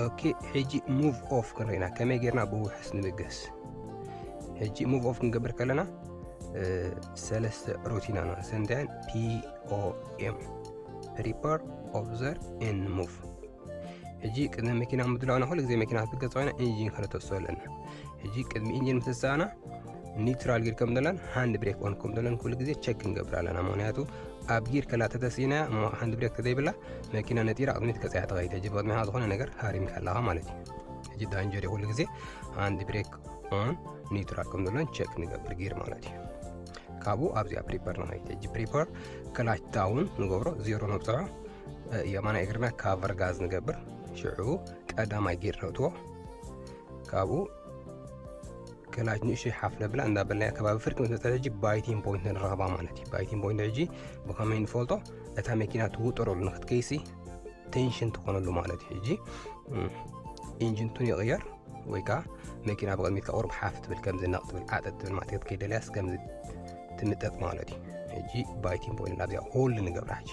ኦኬ ሕጂ ሙቭ ኦፍ ክንርኢ ኢና ከመይ ጌርና ብውሑስ ንብገስ ሕጂ ሙቭ ኦፍ ክንገብር ከለና ሰለስተ ሩቲና ነው ዘንዳያን ፒኦኤም ፕሪፓር ኦብዘር ኤን ሙቭ ሕጂ ቅድሚ መኪና ምድላውና ኩሉ ግዜ መኪና ክትገጽኦ ኢና ኢንጂን ከነተስሶ ኣለና ሕጂ ቅድሚ ኢንጂን ምትሳእና ኒውትራል ጊር ከም ዘለን ሃንድ ብሬክ ኦን ከም ዘለን ኩሉ ግዜ ቸክ ክንገብር ኣለና ምክንያቱ ኣብ ጊር ከላ ተተሲእና እሞ ሃንድ ብሬክ ተዘይብላ መኪና ነጢራ ቅድሚት ከፀያ ተኸይድ ሕጂ ብቅድሚኻ ዝኾነ ነገር ሃሪምካ ኣለኻ ማለት እዩ ሕጂ ዳንጀር ኩሉ ግዜ ሃንድ ብሬክ ኦን ኒውትራል ከም ዘለን ቸክ ንገብር ጊር ማለት እዩ ካብኡ ኣብዚኣ ፕሪፐር ንኸይድ ሕጂ ፕሪፐር ክላች ዳውን ንገብሮ ዜሮ ነብፅዖ የማናይ እግርና ካቨር ጋዝ ንገብር ሽዑ ቀዳማይ ጊር ነእትዎ ካብኡ ከላጅ ንእሽተይ ሓፍ ነብላ እንዳበልናያ ከባቢ ፍርቂ ምስ መፀት ሕጂ ባይቲን ፖይንት ንረኽባ ማለት እዩ ባይቲን ፖይንት ሕጂ ብኸመይ ንፈልጦ እታ መኪና ትውጥረሉ ንክትከይሲ ቴንሽን ትኾነሉ ማለት እዩ ሕጂ ኢንጅንቱን ይቕየር ወይ ከዓ መኪና ብቕድሚት ከቑርብ ሓፍ ትብል ከምዚ ነቕ ትብል ዓጠጥ ትብል ማለት ክትከይደልያስ ከምዚ ትንጠጥ ማለት እዩ ሕጂ ባይቲን ቦይንን ኣብዚኣ ኩሉ ንገብራ ሕጂ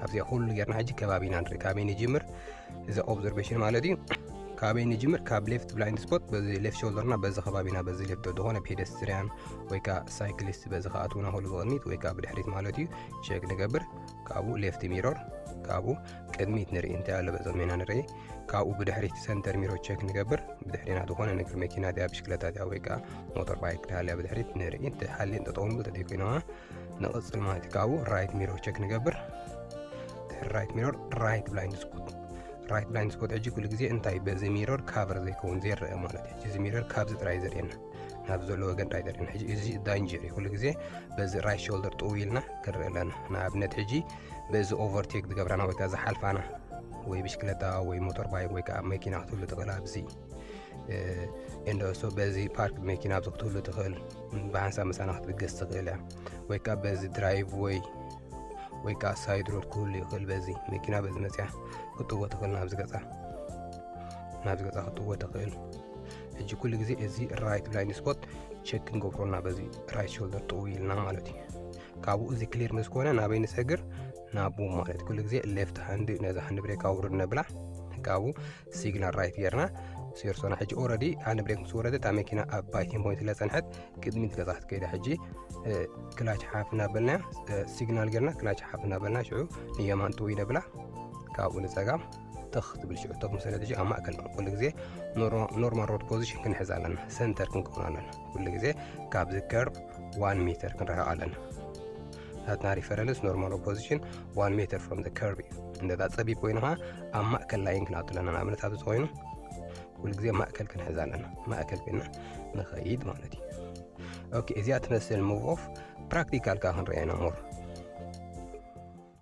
ኣብዚኣ ኩሉ ጌርና ሕጂ ከባቢና ንርኢ ካበይ ንጅምር እዚ ኦብዘርቬሽን ማለት እዩ ካበይ ንጅምር ካብ ሌፍት ብላይንድ ስፖት በዚ ሌፍት ሾልደርና በዚ ከባቢና በዚ ሌፍት ዝኾነ ፔደስትሪያን ወይ ከዓ ሳይክሊስት በዚ ከኣትውና ከሉ ብቕድሚት ወይ ከዓ ብድሕሪት ማለት እዩ ሸግ ንገብር ካብኡ ሌፍት ሚሮር ካብኡ ቅድሚት ንርኢ እንታይ ኣሎ በዞም ኢና ንርኢ ካብኡ ብድሕሪት ሰንተር ሚሮ ቸክ ንገብር ብድሕሪና ዝኾነ ንግር መኪና ድያ ብሽክለታ ድያ ወይ ከዓ ሞተር ባይክ ድሃልያ ብድሕሪት ንርኢ እንተሓልየ እንተጠውኑ ተደይ ኮይነዋ ንቕፅል ማለት እዩ ካብኡ ራይት ሚሮ ቸክ ንገብር ድሕሪ ራይት ሚሮር ራይት ብላይንድ ስፖት ራይት ብላይንድ ስፖት ሕጂ ኩሉ ግዜ እንታይ በዚ ሚሮር ካቨር ዘይከውን ዘይረአ ማለት እዩ እዚ ሚሮር ካብዚ ጥራይ ዘርእየና ናብ ዘለዎ ገንዳ ገርና ሕጂ እዚ ዳንጀር እዩ ኩሉ ግዜ በዚ ራይት ሾልደር ጥው ኢልና ክንርኢ ኣለና ንኣብነት ሕጂ በዚ ኦቨርቴክ ዝገብራና ወይ ከዓ ዝሓልፋና ወይ ብሽክለታ ወይ ሞተር ባይክ ወይ ከዓ መኪና ክትህሉ ትኽእል ኣብዚ እንደሶ በዚ ፓርክ መኪና ኣብዚ ክትህሉ ትኽእል ብሓንሳብ ምሳና ክትብገስ ትኽእል እያ ወይ ከዓ በዚ ድራይቭ ወይ ወይ ከዓ ሳይድ ሮድ ክህሉ ይኽእል በዚ መኪና በዚ መፅያ ክትጥዎ ትኽእል ናብዚ ገፃ ናብዚ ገፃ ክትጥዎ ትኽእል ሕጂ ኩሉ ግዜ እዚ ራይት ብላይንድ ስፖት ቸክ ክንገብሮ እና በዚ ራይት ሾልደር ጥው ኢልና ማለት እዩ ካብኡ እዚ ክሊር ምስ ኮነ ናበይ ንሰግር ናቡ ማለት ኩሉ ግዜ ሌፍት ሃንድ ነዛ ሃንድ ብሬክ ኣውርድ ነብላ ካብኡ ሲግናል ራይት ጌርና ሴርሶና ሕጂ ኦረዲ ሃንድ ብሬክ ምስ ወረደ እታ መኪና ኣብ ባይቲን ፖይንት ስለ ፀንሐት ቅድሚት ገዛ ክትከይዳ ሕጂ ክላች ሓፍ እናበልና ሲግናል ጌርና ክላች ሓፍ እናበልና ሽዑ ንየማን ጥው ኢነብላ ካብኡ ንፀጋም ትኽ ትብል ሽዑ ቶክ መሰረት ሽዑ ኣብ ማእከል ኩሉ ግዜ ኖርማል ሮድ ፖዚሽን ክንሕዝ ኣለና ሰንተር ክንከውን ኣለና ኩሉ ግዜ ካብዚ ከርብ ዋን ሜተር ክንረሕቕ ኣለና ናትና ሪፈረንስ ኖርማል ኦፖዚሽን ዋን ሜተር ፍሮም ዘ ከርብ እዩ እንደዛ ፀቢብ ኮይኑ ከዓ ኣብ ማእከል ላይን ክንኣቱ ኣለና ንኣብነት ኣብዚ ኮይኑ ኩሉ ግዜ ማእከል ክንሕዝ ኣለና ማእከል ኮይና ንኸይድ ማለት እዩ ኦኬ እዚኣ ትመስል ሙቭ ኦፍ ፕራክቲካል ከዓ ክንረአየና ሞር